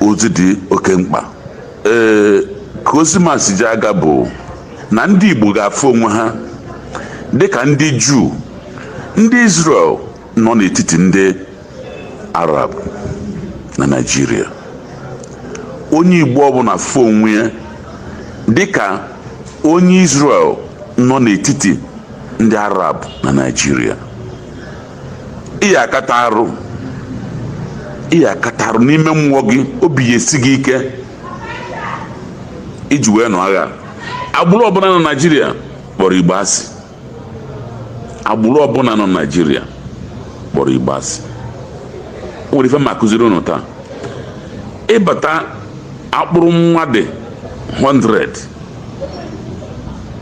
ozi dị oke mkpa ee ka ozi ma si ji aga bụ na ndị igbo ga-afụ onwe ha dịka ndị juu ndị israel nọ n'etiti ndị arab na naijiria onye igbo ọbụla fụ onwe ya dịka onye israel nọ n'etiti ndị arab na naijiria ị ya akata arụ ị ya akata arụ n'ime mmụọ gị obi ya esi gị ike iji wee nụọ agha agbụrụ ọbụla nọ naijiria kpọrọ igbo asị agbụrụ ọbụla nọ naijiria kpọrọ igbo asị o nwere ife ma akụziri ụnụ taa ịbata akpụrụ mmadụ 100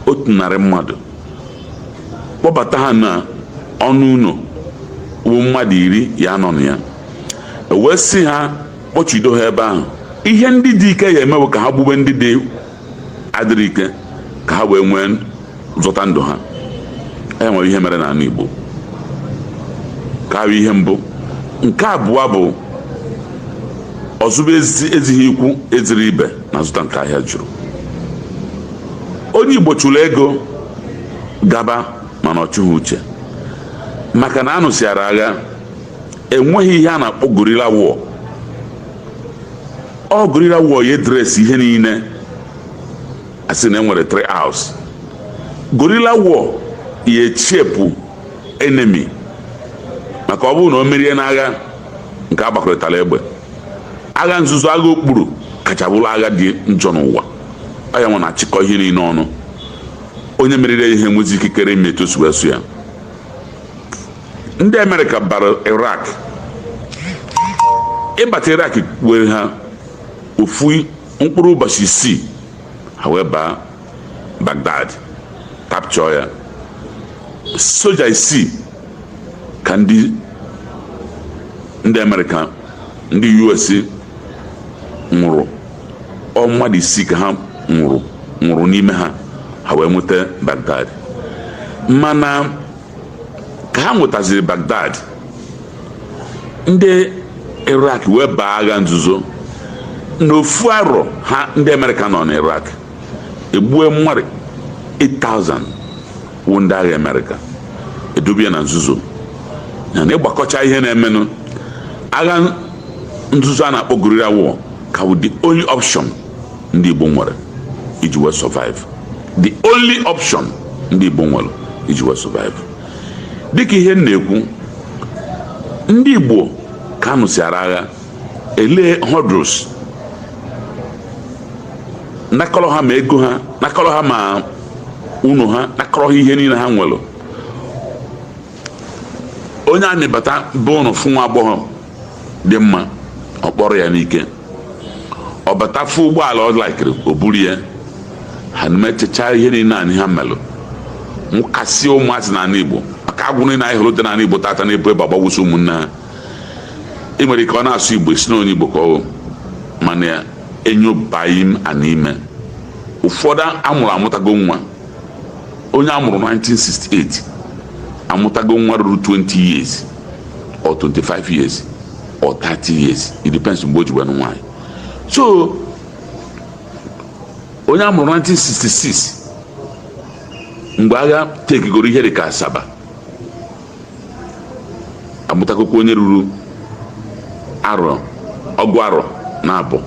otu narị mmadụ kpọbata ha na ọnụ ụlọ wụ mmadụ iri ya anọ na ya ewee sị ha kpọchido ha ebe ahụ ihe ndị dị ike ya emewe ka ha gbube ndị dị adịghị ike ka ha wee nwee zọta ndụ ha e nwere ihe mere n'ala Igbo ka ahụ ihe mbụ nke abụọ bụ ọzụbe ezighi ikwu ezighi ibe na-azụta nke ahịa jụrụ onye igbo chụrụ ego gaba mana ọ chụghị uche maka na anụsịara agha enweghị ihe a na-akpọ guerrilla war ọ guerrilla war ya address ihe niile asị na enwere three hours guerrilla war ya echepụ enemy maka ọ bụrụ na o merie n'agha nke agbakọrịtara egbe agha nzuzo agha okpuru kacha bụrụ agha dị njọ n'ụwa ọ ya nwa na-achịkọ ihe niile ọnụ onye meriri ya enwezi ikikere ime etu si wee sọ ya ndị amerịka bara iraq ịbata iraq were ha ofu mkpụrụ ụbọchị isii ha wee baa baghdad capture ya soja isii ka ndị ndị amerịka ndị us nwụrụ ọ mmadụ isii ka ha nwụrụ nwụrụ n'ime ha ha wee nweta baghdad mana ka ha nwetaziri baghdad ndị iraq wee baa agha nzuzo n'ofu arọ ha ndị amerịka nọ na iraq egbue mmadụ 8000 wụ ndị agha amerịka edobie na nzuzo ya na ịgbakọcha ihe na-emenụ agha nzuzo a na-akpọ guerrilla war ka wụ the only option ndị igbo nwere iji wee survive the only option ndị igbo nwere iji wee survive dịka ihe m na-ekwu ndị igbo ka anụsịara agha elee hurdles nakọrọ ha ma ego ha nakọrọ ha ma ụnọ ha nakọrọ ha ihe niile ha nwere onye army bata be unu fụ nwa agbọghọ dị mma ọ kpọrọ ya n'ike ọ bata fụ ụgbọala ọ laikiri o buru ya ha na-emechacha ihe niile ahụ ha melụ mụkasị ụmụazị n'ala Igbo maka agboro niile anyị hụrụ dị n'ala Igbo tata na-ebu egbe agbagbusi ụmụnne ha ị nwere ike ọ na-asụ igbo ị sị na onye igbo ka ọ bụ mana enyobaghị m anya ime ụfọdụ a mụrụ amụtago nwa onye a mụrụ 1968 amụtago nwa ruru 20 years or 25 years or 30 years it depends mgbe o ji wee nwaanyị so onye a mụrụ 1966 mgbe agha tekigoro ihe dị ka asaba amụtagokwa onye ruru arọ ọgụ arọ na abụọ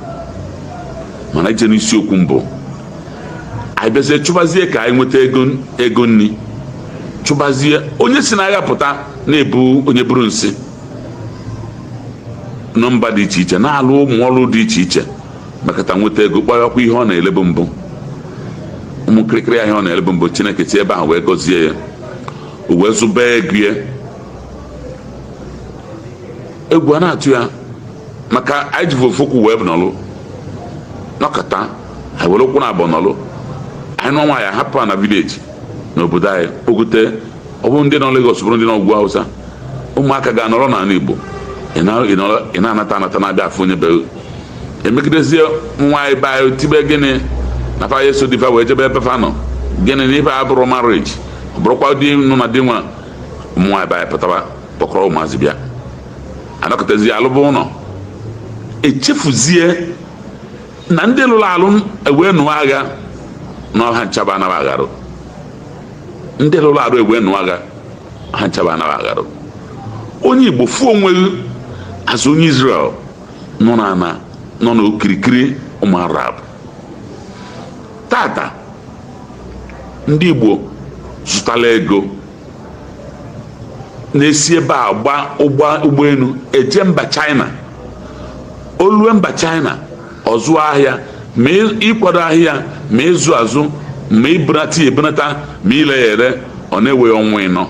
mana i je n'isiokwu mbụ anyị bịazie chụbazie ka anyị nweta ego nri chụbazie onye si n'agha pụta na-ebu onye buru nsị na mba dị iche iche na-alụ ụmụ ọrụ dị iche iche mekata nweta ego kpọghakwa ihe ọ na-elebu mbụ ụmụ kịrịkịrị ahịa ọ na-elebu mbụ chineke si ebe ahụ wee gọzie ya o wee zụba ego ya egwu a na-atụ ya maka anyị ji ofu ụkwụ wee nọlụ nọkata anyị were ụkwụ na abụọ nọlụ anyị nụọ nwaanyị hapụ na vileji n'obodo anyị kpogote ọ bụrụ ndị nọ Lagos bụrụ ndị nọ ugwu Hausa ụmụaka ga-anọrọ n'ala Igbo ị na-anata anata na-abịa afụ onye be e megidezie nwaanyị be anyị tibe gịnị na fa ya-eso di fa wee jebe ebe fa nọ gịnị na ife a bụrụ marriage ọ bụrụkwa di nụ na di nwa ụmụ nwaanyị bịa pụtaba kpọkọrọ ụmụazị bịa anọkọtazie alụba ụlọ e chefuzie na ndị lụrụ alụ e wee nụọ agha na ọha nchaba anaghị agharụ ndị lụrụ alụ e wee nụọ agha ha nchaba anaghị agharụ onye igbo fuo o nweghị azụ onye israel nọ na nọ n'okirikiri ụmụ arab tata ndị Igbo zụtala ego na-esi ebe a gba ụgbọelu eje mba China o lue mba China ọ zụọ ahịa ma ịkwado ahịa ma ịzụ azụ ma ibunata ya ebunata ma ile ya ere ọ na-ewe ya ọnwa ịnọ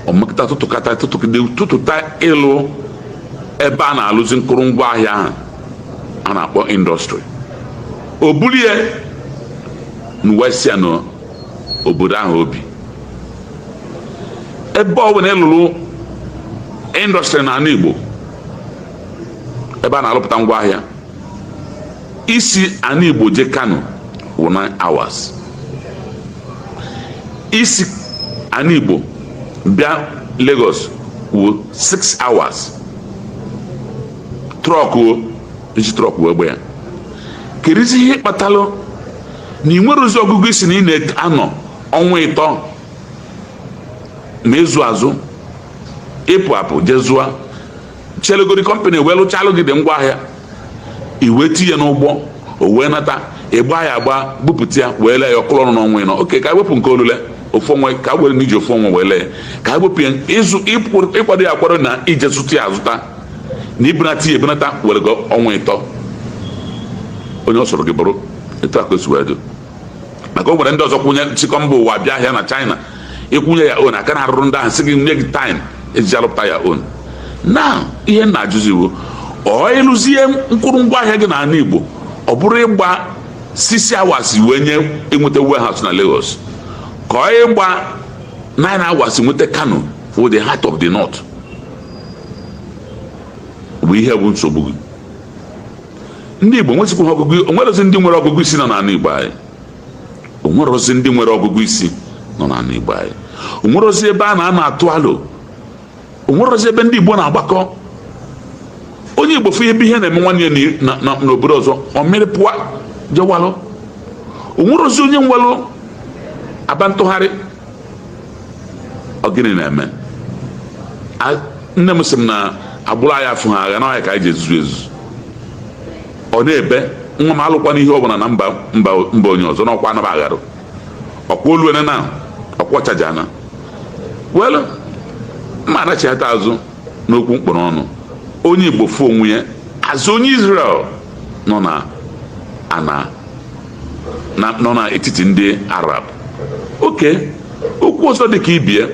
o mekata tụtụkata tụtụkide tụtụta ịlụ ebe a na-alụzi nkụrụngwa ahịa ahụ a na-akpọ indọstrị o bulie n'uwesịa na obodo ahụ o bi ebe ọ bụla ị lụrụ industry n'ala Igbo ebe a na-alụpụta ngwa ahịa i si ala Igbo je Kano wụ 9 hours i si ala Igbo bịa Lagos wụ 6 hours truck o e ji truck wee gba ya kerizi ihe kpatalụ na ị nwerozi ọgụgụ isi na ị na-anọ ọnwa ịtọ ma ịzụ azụ ịpụ apụ je zụa chelegori company wee lụchalụ gị dị ngwa ahịa i wee tinye n'ụgbọ o wee nata ịgba ya agba bupụta ya wee lee ya ọ kụrụ ọnụ n'ọnwa ịnọ okay ka wepụ nke olile ofu ọnwa ka were na i ji ofu ọnwa wee lee ka wepụ ya ịzụ ịkwado ya akwado na ije zụta ya azụta na ibunata ya ebunata were gị ọnwa ịtọ onye ọ sọrọ gị bụrụ etu a ka o si wee dị maka o nwere ndị ọzọ kwụnye nchịkọ mba ụwa bịa ahịa na China ị kwụnye ya on aka na-arụrụ ndị ahụ sị gị nye gị time e ji alụpụta ya ọ na ihe m na-ajụzi wụ ọ ị lụzie mkpụrụ ngwa ahịa gị n'ala Igbo ọ bụrụ ịgba six hours wee nye enweta warehouse na Lagos ka ọ ịgba nine hours nweta Kano for the heart of the north bụ ihe bụ nsogbu gị ndị Igbo nwezikwa ọgụgụ o nwerozi ndị nwere ọgụgụ isi nọ n'ala Igbo anyị o nwerozi ndị nwere ọgụgụ isi nọ n'ala Igbo anyị o nwerozi ebe a na-anọ atụ alo o nwerozi ebe ndị Igbo na-agbakọ onye Igbo fụ ebe ihe na-eme nwanne ya n'obodo ọzọ ọ mịrị pụọ jewalụ o nwerozi onye nwelụ aba ntụgharị ọ gịnị na-eme nne m sị m na agbụrụ anyị afụhọ agha na ọ ya ka anyị ji ezuzu ezuzu ọ na-ebe nwa m alụkwana ihe ọbụla na mba onye ọzọ n'ọkwa anaba agharụ ọkwa oluene na ọkwa chaja na welu mma ana chighata azụ n'okwu m kpọrọ ọnụ onye Igbo fụ onwe ya as onye Israel nọ na ana nọ n'etiti ndị Arab okay okwu ọzọ dị ka ibe ya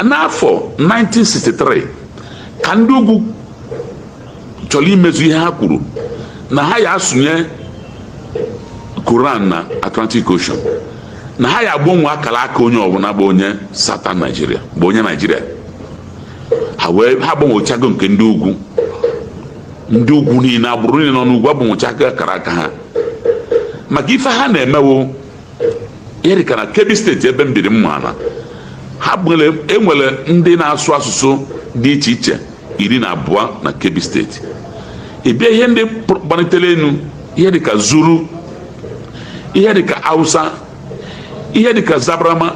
n'afọ 1963 ka ndị ugwu chọrọ imezu ihe ha kwuru na ha ya asụnye Koran na Atlantic Ocean na ha ya agbanwe akara aka onye ọbụla bụ onye Southern Nigeria bụ onye Nigeria ha wee ha agbanwechago nke ndị ugwu ndị ugwu niile agbụrụ niile nọ n'ugwu agbanwechago akara aka ha maka ife ha na-emewo ihe dịka na Kebbi steeti ebe m biri maala ha enwere ndị na-asụ asụsụ dị iche iche iri na abụọ na Kebbi steeti ịbịa ihe ndị gbanitere enu ihe dịka zuru ihe dịka hausa ihe dịka zabrama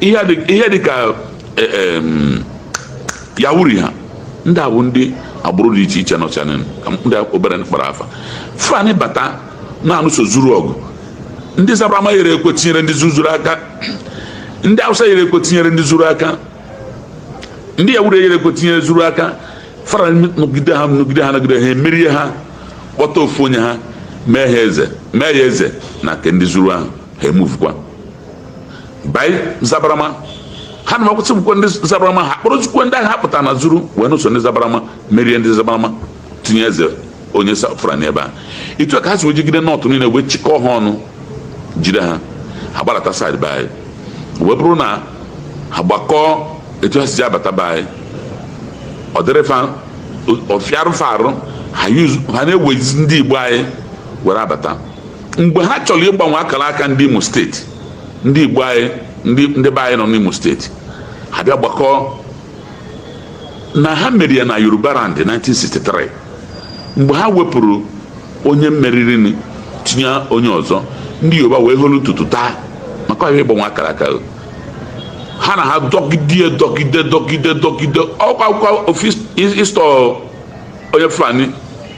ihe dịka e, e, yawuri ha ndị a bụ ndị agbụrụ dị iche iche nọcha na ka ndị obere kpara afa fulani bata na-anụso zuru ọgụ ndị zabrama yere ekwe tinyere ndị zuru aka ndị awụsa yere ekwe tinyere ndị zuru aka ndị yawuri yere ekwe tinyere zuru aka fulani nọgide ha nọgide ha nọgide ha emerie ha kpọta ofu onye ha mee ha eze mee ya eze na nke ndị zuru ahụ ha emuvukwa baa zabarama ha na makwụsị bụkwa ndị zabarama ha kpọrọzikwa ndị agha pụtara na zuru wee nụso ndị zabarama merie ndị zabarama tinye eze onye fulani n'ebe a etu a ka ha si wee jigide north niile wee chịkọọ ha ọnụ jide ha ha gbadata side be anyị wee bụrụ na ha gbakọọ etu ha si ji abata be anyị ọ dịrị fa ọ fịarụ fa arụ ha na-ewezi ndị igbo anyị were abata mgbe ha chọrọ ịgbanwe akara aka ndị imo steeti ndị igbo anyị ndị be anyị nọ n'imo steeti ha bịa gbakọọ na ha mere ya na yoruba land 1963 mgbe ha wepụrụ onye meriri tinye onye ọzọ ndị yoruba wee holu ntutu taa maka ihe a ịgbanwe akara aka ha na ha dọgide dọgide dọgide dọgide ọkwa akwụkwọ ofis ịstọ onye fulani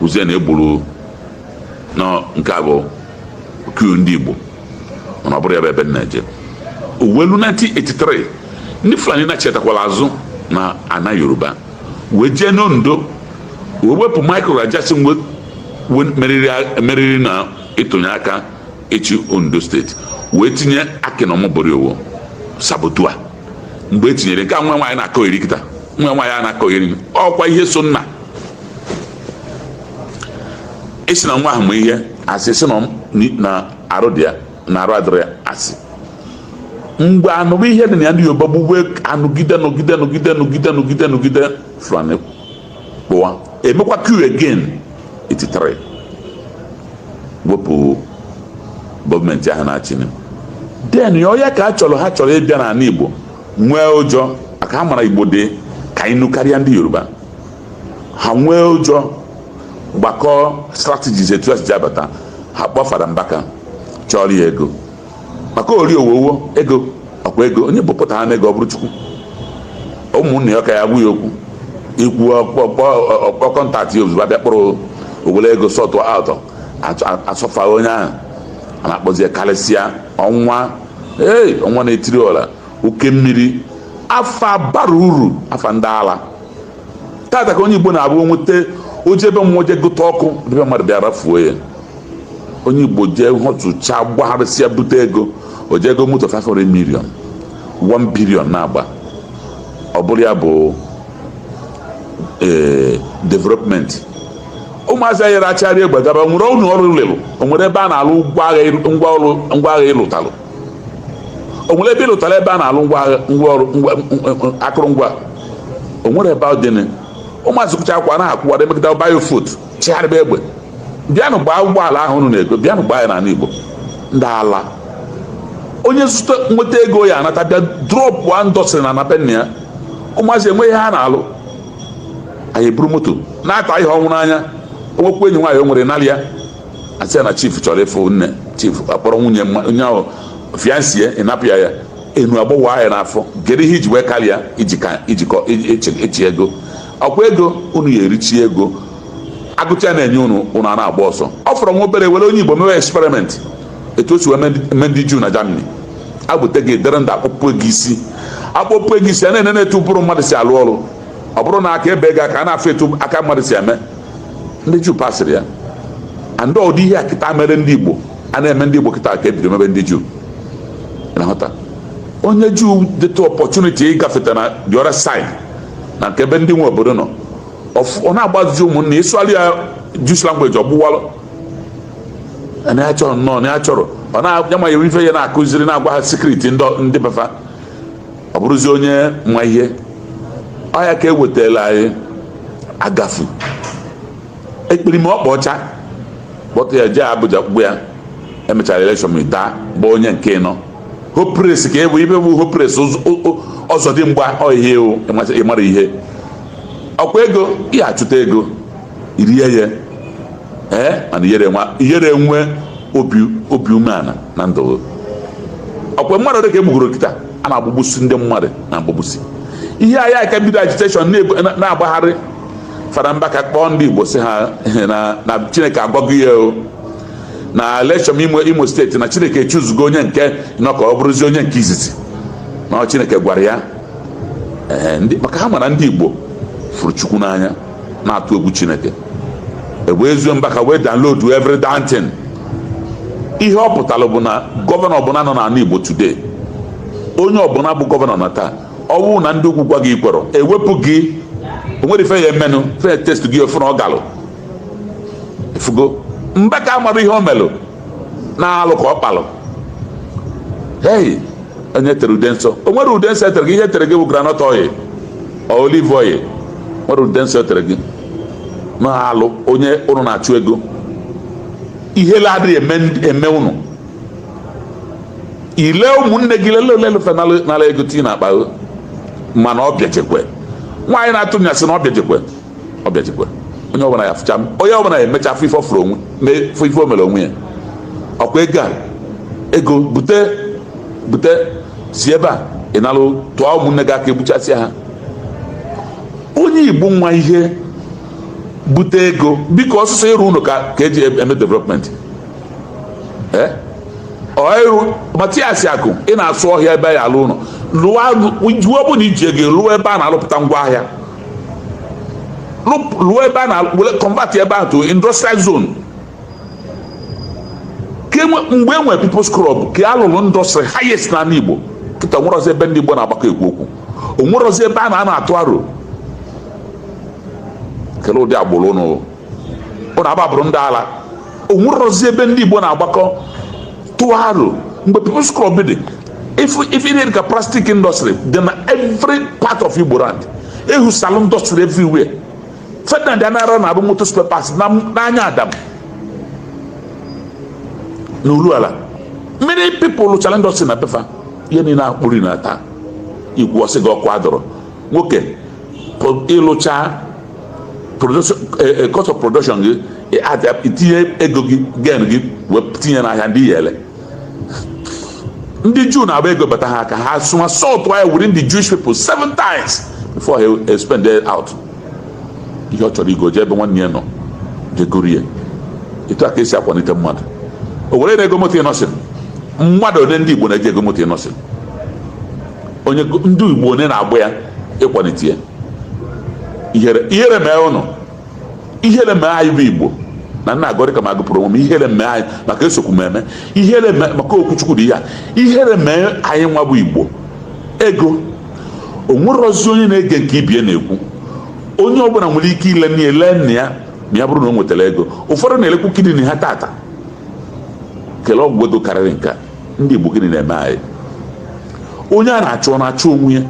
uzie na egburu na nke a bụ coup ndị Igbo mana ọ bụrọ ya bụ ebe m na-eje o wee lue 1983 ndị Fulani nachitakwala azụ na ana Yoruba wee jee n'Ondo wee wepụ Michael Ajasin meriri na ịtụnye aka ịchị Ondo steeti wee tinye Akin Omoboriowo saboteur mgbe e tinyere nke a nwa nwaanyị na-akọyeri kịta nwa nwaanyị a na-akọyeri ọkwa ihe so nna esi na nwa ahụ ma ihe asị sị na arụ dị ya na arụ adịrị ya asị mgbe anụrụ ihe dị na ya ndị Yoruba gbugbe anụgide nụgide nụgide nụgide nụgide nụgide fulani kpụwa emekwa coup again 83 wepụ gọọmenti ahụ na-achị then ya ọya ka a chọrọ ha chọrọ ịbịa n'ala igbo nwee ụjọ maka ha mara igbo dị ka anyị nụ karịa ndị yoruba ha nwee ụjọ gbakọọ strategies etu ha si ji abata ha kpọọ fada mbaka chọọrọ ya ego maka ori owowo ego ọkwa ego onye bupụta ha na ego ọ bụrụ chukwu ụmụnne ya ka ya gwa ya okwu i kwuo ọ kpọọ contact ya ozugbo a bịa kpọrọ o were ego sọtụ atọ asọfa onye ahụ a na-akpọzie karịsịa ọnwa ee ọnwa na-etiri ọra oke mmiri afa abarọ uru afa ndị ala tata ka onye igbo na-abụ nweta o je ebe mmụọ je gụta ọkụ ebe mmadụ bịa rafuo ya onye igbo jee họtụcha gbagharịsịa bute ego o jee ego moto 500 million 1 billion na-agba ọ bụrụ ya bụ ee development ụmụazị anyị achịrị egbe gaba o nwere ụlọ ọrụ ị lụlụ o nwere ebe a na-alụ ngwa agha ị lụtalụ o nwere ebe ị lụtara ebe a na-alụ akụrụngwa o nwere ebe ọ dị ụmụazị kụcha akwa na-akwụwa dị megide biofut chigharịba egbe bịanụ gbaa ụgbọala ahụ unu na-ego bịanụ gbaa ya n'ala Igbo ndị ala onye zụta nweta ego ya anata bịa drọpụ industry na ana be nna ya ụmụazị enweghị ha na-alụ anyị eburu moto na-ata ihe ọnwụ n'anya o nwekwa enyi nwaanyị o nwere nalị ya a sị na chief chọrọ ịfụ nne chief akpọrọ nwunye onye ahụ fiancee ịnapụ ya ya enu agbọwa ya n'afọ gere ihe i ji wee karịa ijikọ echi ego ọkwa ego unu ya erichi ego agụcha na-enye unu unu a na-agba ọsọ ọ fọrọ nwa obere e were onye igbo mewe experiment etu o si wee mee ndị juu na germany agbute gị dịrị ndụ a kpọpue gị isi a kpọpue gị isi a na-enene etu ụbụrụ mmadụ si alụ ọrụ ọ bụrụ na aka e bee gị aka a na-afụ etu aka mmadụ si eme ndị juu pasịrị ya and ụdị ihe a kịta mere ndị igbo a na-eme ndị igbo kịta ka e bido mebe ndị juu na-ahụta onye juu dịtụ opportunity ịgafeta na the other side na nke ebe ndị nwe obodo nọ ọ na-agbazi ụmụnna ị sụalụ ya Jews language ọgbụwalụ na ya chọrọ nnọọ na ya chọrọ ọ na-amaghị ife ya na-akụziri na-agwa ha secret ndị be fa ọ bụrụzi onye ma ihe ọ ya ka e wetara anyị agafu ekperima ọkpa ọcha kpọta ya jee Abuja kpụgbu ya e mechara election ma daa bụ onye nke ịnọ hopeless ka ebu ibe bụ hopeless Ụzọdịmgba ọ ihe a ịmara ihe ọkwa ego ị ya-achụta ego i rie ya ee mana ị yarọ enwe obi umeala na ndụ ọkwa mmadụ dịka e gbugoro kịta a na-agbagbusi ndị mmadụ na-agbagbusi ihe anyị ka bido agitation na-agbagharị Fada Mbaka kpọọ ndị Igbo sị ha na Chineke agwago ya o na election imo imo steeti na chineke chụzugo onye nke ịnọ ka ọ bụrụzi onye nke izizi na chineke gwara ya maka ha mara ndị igbo fụrụ chukwu n'anya na-atụ egwu chineke ebe ezuo mbaka wee download every damn thing ihe ọ pụtara bụ na gọvanọ ọbụla nọ n'ala igbo today onye ọbụla bụ gọvanọ na taa ọ bụrụ na ndị ugwu gwa gị ikwerọ ewepụ gị onwere ife ya emenụ fe test gị ọ fụ na ọ galụ efugo mbaka amara ihe o melụ na alụ ka ọ kpalụ hei onye tere ude nsọ o nwerọ ude nsọ etere gị ihe etere gị bụ groundnut oil olive oil nwerọ ude nsọ etere gị n'ahụ onye ụnụ na-achụ ego ihele adịghị eme ụnụ ile ụmụnne gị lele ole lefe nala ego tii n'akpa mana ọ bịachekwe nwaanyị na-atụ nyasị na ọ bịachekwe ọ bịajikwa onye ọbụla ya fụcha onye ọbụla ya emecha afụ ife ọfụrụ onwe mee fụ ife o mere onwe ya ọkwa ego a ego bute bute si ebe a ị nalụ tụọ ụmụnne gị aka egbuchasịa ha onye igbo nwa ihe bute ego biko ọ sọsọ ịrụ ụlọ ka ka eji eme development ee ọrụ matias akụ ị na-asụ ọhịa ebe ya alụ ụlọ lụọ bụ na iji ego lụọ ebe a na-alụpụta ngwa ahịa lụọ ebe a na convert ebe ahụ to industrial zone mgbe e nwere people's club ka a lụrụ industry highest n'ala Igbo kịta onwerozi ebe ndị Igbo na-agbakọ ekwu okwu onwerozi ebe a na-atụ aro kele ụdị agbụrụ ụnụ ụra agbụrụ ndị ala o nwerọzi ebe ndị Igbo na-agbakọ tụọ aro mgbe People's Club dị ife ihe dị ka plastic industry dị na every part of Igbo land ehu salon industry everywhere Ferdinand Anaghara na-akpụ moto spare parts n'anya Adam na Urualla many people lụchara industry na befa ihe niile akpụri na taa igwe ọ sị gị ọkụ adịrọ nwoke ịlụcha cost of production gị itinye ego gị gain gị wee tinye n'ahịa ndị yele ndị juu na-agba ego bata ha aka ha somersault ya within the jewish people seven times before he spend it out ihe ọ chọrọ igo jee ebe nwanne ya nọ je goro ya etu aka esi akwalite mmadụ o were na-ego moto innoson mmadụ ole ndị igbo na-eje ego moto innoson onye ndị Igbo one na-agba ya ịkwalite ya ihere ihere mee ụnụ ihere mee anyị bụ Igbo na nna agọrị ka m agụpụrụ onwe m ihere mee anyị maka esokwu m eme ihere mee maka okwu chukwu dị ya ihere mee anyị nwa bụ Igbo ego o nwerozi onye na-ege nke ibie na-ekwu onye ọbụla nwere ike ile nne ya lee nna ya ma ya bụrụ na o nwetara ego ụfọdụ na-elekwu kidney ha tata kelee ọgwụ ego karịrị nke a ndị Igbo gịnị na-eme anyị onye a na-achụ ọ na-achụ onwe ya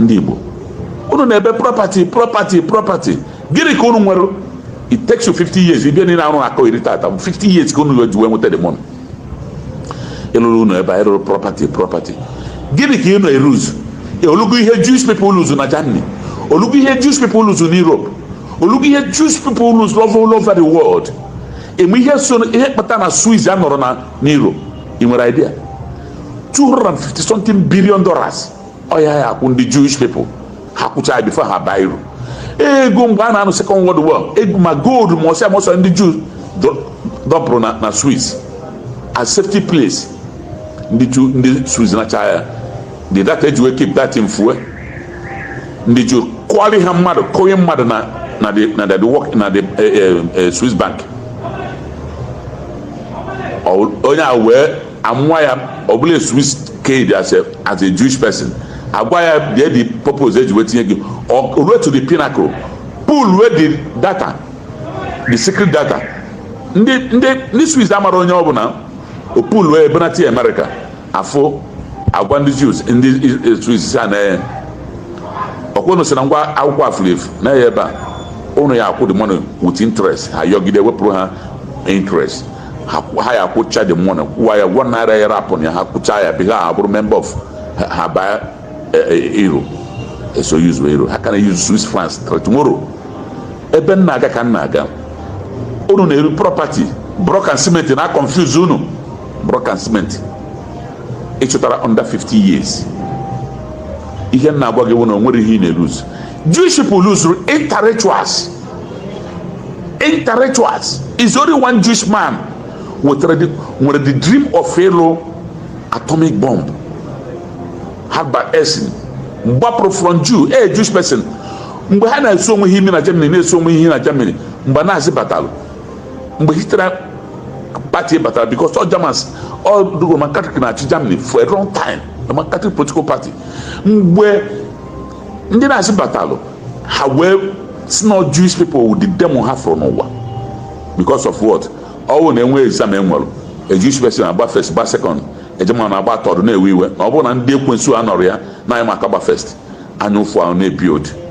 ndị Igbo unu na-ebe property property property gịnị ka unu nwere it takes you 50 years ibia niile arụ akọ iri tata 50 years ka unu ji wee nweta the money ịlụrụ ụnọ ebe anyị rụrụ property property gịnị ka ị na-eluzu o lugo ihe Jewish people luzu na Germany o lugo ihe Jewish people luzu na Europe o lugo ihe Jewish people luzu all over the world eme ihe so ihe kpata na Swiss anọrọ na euro ị nwere idea 250 something billion dollars ọ ha ya akwụ ndị Jewish people ha kwụcha ya before ha baa euro ego mgbe a na-anụ second world war ego ma gold ma ọsịa ma ọsọ ndị Jews dọpụrụ na na Swiss as safety place ndị Swiss nachaa ya the data eji wee keep that info ndị Jews kụọrọ ha mmadụ kụnye mmadụ na na the na the work na the eh, eh, eh, Swiss bank onye a wee amụwa ya ọ bụlụ a Swiss kid as a as a Jewish person agwa ya bịa the purpose eji wee tinye gị ruo to the pinnacle pull wee the data the secret data ndị ndị ndị Swiss amara onye ọ bụla o pull wee benata America afụ agwa ndị Jews ndị Swiss a na-enye ọkwa unu sị na ngwa akwụkwọ a furu efu nee ya ebe a unu ya akwụ the money with interest ha yọgide wepụrụ ha interest ha ya akwụcha the money kwụwa ya one naira ya rapụ ya ha kwụcha ya before ha abụrụ member of ha baa euro e, e, eso use euro ha ka na use Swiss franc tomorrow ebe m na-aga ka m na-aga unu na-eru property block and cement na confuse unu block and cement ị chụtara under 50 years ihe m na-agwa gị wụ na o nwere ihe ị na-eluzu Jewish people luzuru intellectuals intellectuals is only one Jewish man nwetara the- nwere the dream of ịlụ atomic bomb Albert Einstein gbapụrụ from Jew a Jewish person mgbe ha na-esu onwe ha imi na Germany na-esu onwe ha na Germany mgbe Nazi batalụ mgbe Hitler party batara because all Germans all the Roman Catholic na-achị Germany for a long time Roman Catholic political party mgbe ndị Nazi batalụ ha wee sị na Jewish people wụ the demon ha fụrụ n'ụwa because of what ọ wụ na e nwee exam enwere a Jewish person agba first gba second a German agba third na-ewe iwe na ọ bụrụ na ndị ekwensu anọrọ ya na anyị maka agba first anya ụfụ ahụ na-ebi odi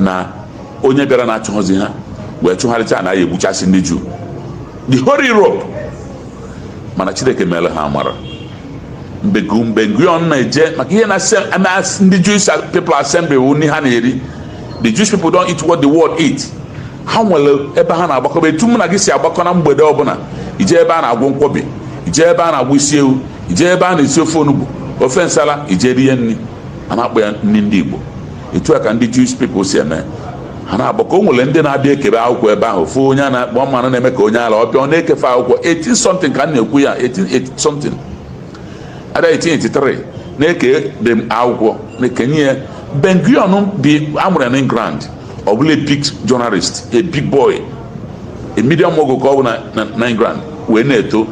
na onye bịara na-achụghọzi ha wee chụgharịcha na ya egbuchasị ndị juu the whole Europe mana chineke mere ha amara mgbe Ben-Gurion na-eje maka ihe na ndị Jewish people assembly wụ nri ha na-eri the Jewish people don't eat what the world eat ha nwere ebe ha na-agbakọba etu mụ na gị si agbakọ na mgbede ọbụla ije ebe a na-agwọ nkwobi ije ebe a na-agwọ isi ewu ije ebe a na-esi ofe onugbu ofe nsala ije rie nri a na-akpọ ya nri ndị Igbo etu a ka ndị Jewish people si eme ha na-agbakọ o nwere ndị na-abịa ekebe akwụkwọ ebe ahụ ofu onye a na-akpọ mmanụ na-eme ka onye ala ọ bịa ọ na-ekefe akwụkwọ 18 something ka m na-ekwu ya 18 something ada 1883 na-eke dị akwụkwọ na-ekenye ya Ben-Gurion bi a mụrụ na England ọ bụ a big journalist a big boy a media mogul ka ọ bụ na England wee na-eto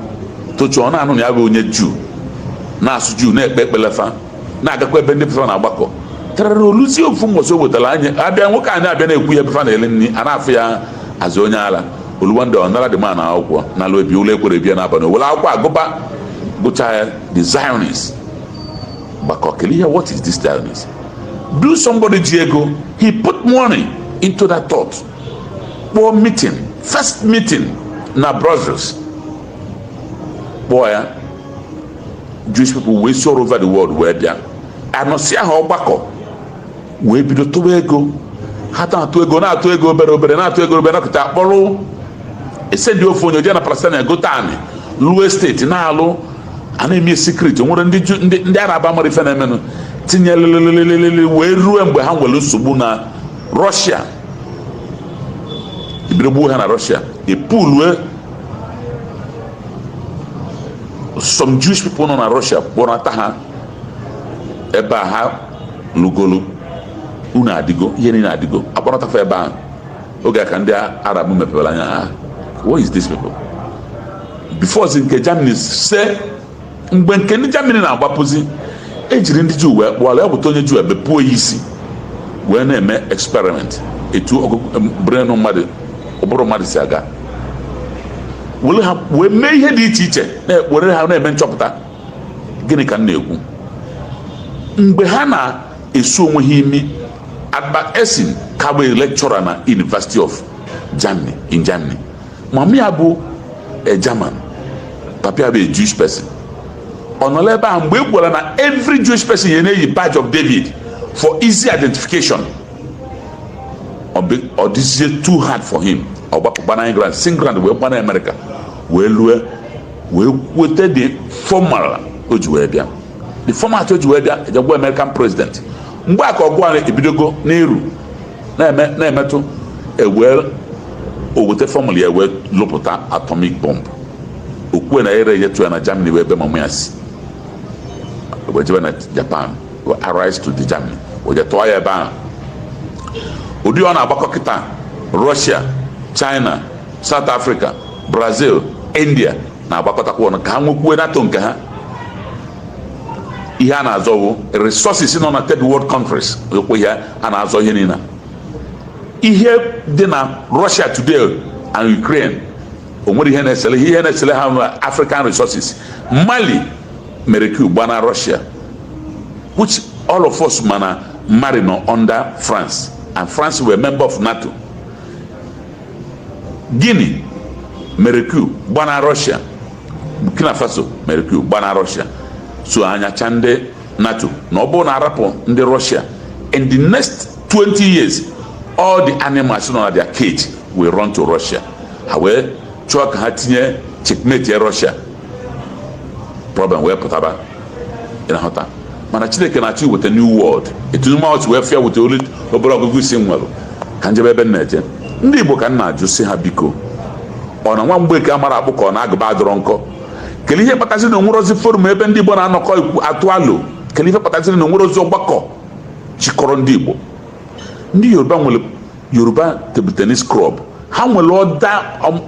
tochụọ na-anụ na ya bụ onye juu na-asụ juu na-ekpe ekpele fa na-agakwa ebe ndị be fa na-agbakọ tarara o luzie ofu mbọsị o wetara anyị abịa nwoke anyị abịa na-ekwu ya ebe fa na-ele nri a na-afụ ya as onye ala o lu one day ọ nara the man akwụkwọ na ala obi ụla ekwero bịa n'abalị o were akwụkwọ a gụba gụcha ya the zionist gbakọ kelee ya what is this zionist do somebody ji ego he put money into that thought kpọọ meeting first meeting na Brussels kpọọ ya Jewish people wee si all over the world wee bịa anọsịa ha ọgbakọ wee bido tụwa ego ha na-atụ ego na-atụ ego obere obere na-atụ ego obere nakọta a kpọrọ e sendi ofu onye jee na Palestine gote anị lụọ estate na-alụ a na-eme secret nwere ndị Arab amarọ ife na-emenụ tinye lelelelelele wee ruo mgbe ha nwere nsogbu na Russia e bido gbuo ha na Russia e bulu some Jewish people nọ na Russia kpọnata ha ebe a ha lụgolu ụnọ adịgo ihe niile adịgo a kpọnata fa ebe ahụ oge a ka ndị Arab mepere anya ha what is this people before zi nke Germany esee mgbe nke ndị Germany na-agbapụzi e jiri ndị Juu wee kpụọla ya bụta onye Juu e bepụ ya isi wee na-eme experiment etu ụbụrụ brain mmadụ ụbụrụ mmadụ si aga were ha wee mee ihe dị iche iche were ha na-eme nchọpụta gịnị ka m na-ekwu mgbe ha na-esu onwe ha imi Albert Einstein ka bụ lecturer na University of Germany in Germany mama ya bụ a German papa ya bụ a Jewish person ọ nọ ebe ahụ mgbe a gwara na every Jewish person ya na-eyi badge of David for easy identification ọ dịzie too hard for him ọ gbapụ gbana England si England wee gbana Amerịka wee lue wee weta the formal o ji wee bịa the format o ji wee bịa ejegwa American president mgbe a ka ọgụ ahụ ebidogo n'iru na-emetụ ewee o weta fọmụla ya wee lụpụta atomic bomb o kwue na ere ya tụ ya na Germany wụ ebe mama ya si wee jebe na Japan allies to the Germany o je tụọ ya ebe ahụ ụdị ọ na-agbakọ kịta Russia China South Africa Brazil India na-agbakọtakwa ọnụ ka ha nwekwuo NATO nke ha ihe a na-azọ bụ resources nọ na third world countries ekwe ihe a na-azọ ihe niile ihe dị na Russia today and Ukraine o nwere ihe na-esele ihe na-esele ha African resources Mali mere coup gbana Russia which all of us ma na Mali nọ under France and France were member of NATO Guinea mere coup gbana Russia Burkina Faso mere coup gbana Russia so anya cha ndị NATO na ọ bụrụ na a rapụ ndị Russia in the next 20 years all the animals nọ na their cage will run to Russia ha wee chọọ ka ha tinye checkmate Russia problem wee pụtaba ị na-ahụ taa mana chineke na-achọ iweta new world etu mụ si wee fụ ya weta olu obere ọgụgụ isi m nwere ka m jebe ebe m na-eje ndị igbo ka m na-ajụ sị ha biko ọ na nwa Mgbeke amarọ akpụ ka ọ na agụba adịrọ nkọ kedu ihe kpatazi na o nwerọzi forum ebe ndị igbo na-anọkọ atụ alo kedu ihe kpatazi na o nwerọzi ọgbakọ chịkọrọ ndị igbo ndị yoruba nwere yoruba table tennis club ha nwere other um,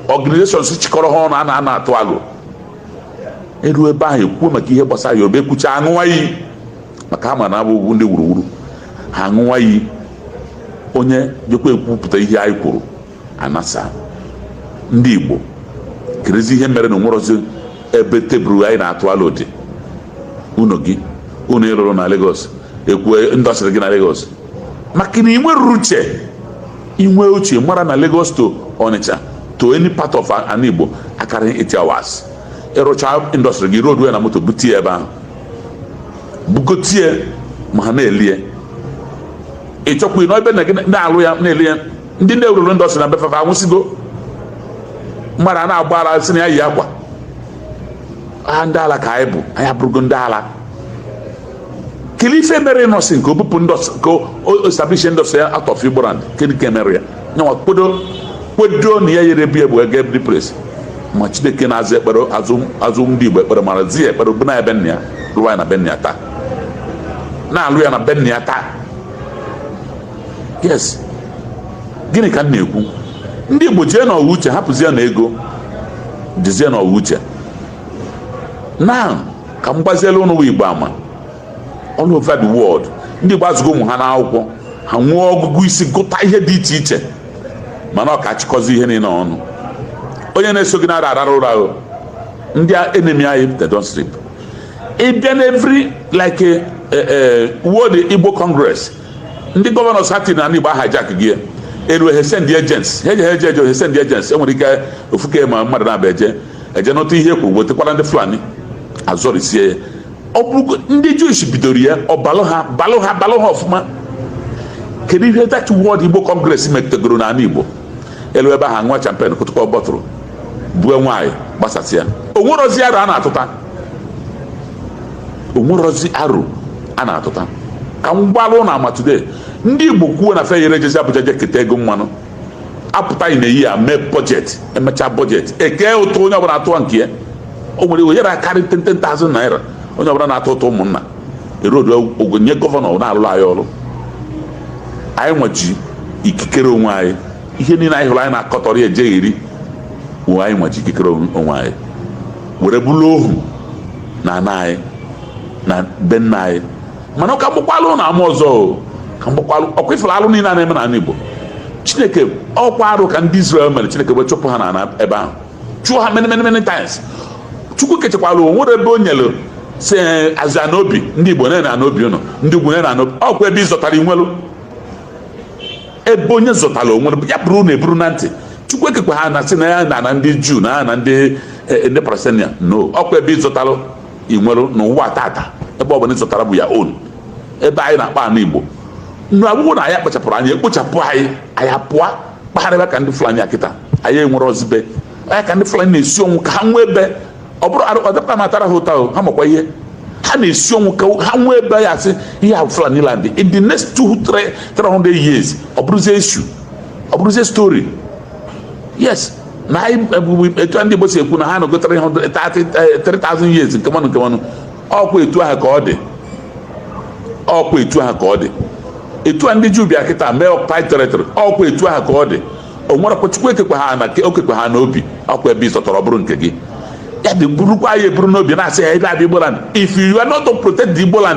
organizations chịkọrọ ha ọnụ ha na-anọ atụ alo e ruo ebe ahụ ekwuo maka ihe gbasara yoruba ekwucha aṅụwa iyi maka a ma na abụghị ndị wuruwuru ha aṅụwa iyi onye jekwa ekwupụta ihe anyị kwuru a nasaa ndị igbo kedụzi ihe mere na o nwerọzi ebe table anyị na-atụ alo dị ụnọ gị ụnọ ị lụrụ na Lagos ekwue industry gị na Lagos maka na i nwerọ uche i nwee uche mara na Lagos to Onitsha to any part of ana Igbo akarọ 8 hours ị rụcha industry gị load na moto bute ya ebe ahụ bugote ya ma ha na-ele ya ị chọkwa ịnọ ebe na-alụ ya na-ele ya ndị na-ewurọ industry na be fa fa anwụsịgo mmadụ a na-agba ala sị na ya yi akwa ha ndị ala ka anyị bụ anyị abụrụgo ndị ala kedu ife mere nọsị nke obupụ ka o establish industry ya out of igboland kedu ka emere ya nyanwa kpodo kpodo na ya yere bi egbu ego every place ma chineke na-aza ekpere aza ndị igbo ekpere mara zi ya ekpere bụ na ebe nna ya lụwa ya na be nna ya taa na-alụ ya na be nna ya taa yes gịnị ka m na-ekwu ndị igbo jee na ọwa uche hapụzie na ego jezie na ọwa uche now ka m gbaziela ụnụ igbo ama all over the world ndị igbo azụgo ụmụ ha n'akwụkwọ ha nwee ọgụgụ isi gụta ihe dị iche iche mana ọ ka achịkọzi ihe niile ọnụ onye na-eso gị nara arara ụra ahụ ndị enemy anyị they don't sleep ị bịa na every like a, a, a world igbo congress ndị gọvanọ sati na ndị igbo hijack gị elu he send agents he je he je he send agents enwere ike ofuke ma mmadụ na-abịa eje eje nụta ihe e kwuru wetakwara ndị fulani azọrisie ya ọ bụrụ ndị jewish bidoro ya ọ balụ ha balụ ha balụ ha ọfụma kedu ihe that world igbo congress metegoro n'ala igbo elu ebe ahụ nwa champion kụtụkọ bọtụrụ bue nwaanyị gbasasị ya o nwerozi aro a na-atụta o nwerozi aro a na-atụta ka m gbalụ ụnụ ama today ndị igbo kwuo na fe yere jezi abuja je keta ego mmanụ apụta anyị na eyi ya mee bọjetị emechaa bọjetị ekee ụtụ onye ọbụla atụwa nke ya o nwere ike yara karị 10,000 naira onye ọbụla na-atụ ụtụ ụmụnna erodu ego nye gọvanọ na-alụrụ anyị ọrụ anyị nwa ji ikikere onwe anyị ihe niile anyị hụrụ anyị na-akọtọrọ ya ejegheri wụ anyị nwa ji ikikere onwe anyị were bụrụ ohu na ana anyị na be nna anyị mana ọ ka m gbakwalụ ụnụ ama ọzọ ọ ka m gbakwalụ ọkwa ị fụrụ alụ niile a na-eme n'ala Igbo chineke ọkwa arụ ka ndị Israel mere chineke wee chụpụ ha n'ala ebe ahụ chụọ ha many many many times chukwu kechekwala o nwere ebe o nyere sị azụ ana obi ndị Igbo nene ana obi ụnụ ndị ugwu nene ana obi ọkwa ebe ị zọtara ị nwelụ ebe onye zọtara o nwere ya burunu eburu na ntị chukwu ekekwa ana sị na ya na na ndị juu na ya na ndị ndị palestinian no ọkwa ebe ị zọtara ị nwere n'ụwa tata ebe ọ bụla ị zọtara bụ your own ebe anyị na-akpọ ana igbo now ọ bụrụ na anyị akpachapụrọ anya ekpochapụ anyị anyị apụọ kpagharịba ka ndị fulani kịta anyị enwerozi be anyị ka ndị fulani na-esi ọnwụ ka ha nwee ebe ọ bụrụ ọdịkpa m atara ha ụta ha makwa ihe ha na-esi ọnwụ ka ha nwee ebe a ya-asị ihe a fulani land in the next two three hundred years ọ bụrụzie issue ọ bụrụzie story yes na anyị ebubu etu ndị Igbo si ekwu na ha nọgotara ihe 3000 years nke mmanụ nke mmanụ ọkwa etu ahụ ka ọ dị ọkwa etu ahụ ka ọ dị etu a ndị Juu bịa kịta mee occupied territory ọkwa etu ahụ ka ọ dị o nwere kwa Chukwu ekekwa ana o kekwa ana obi ọkwa ebe ị zọtara bụrụ nke gị ya dị burukwa ya eburu n'obi na-asị ya ebe a bụ Igboland if you are not to protect the Igboland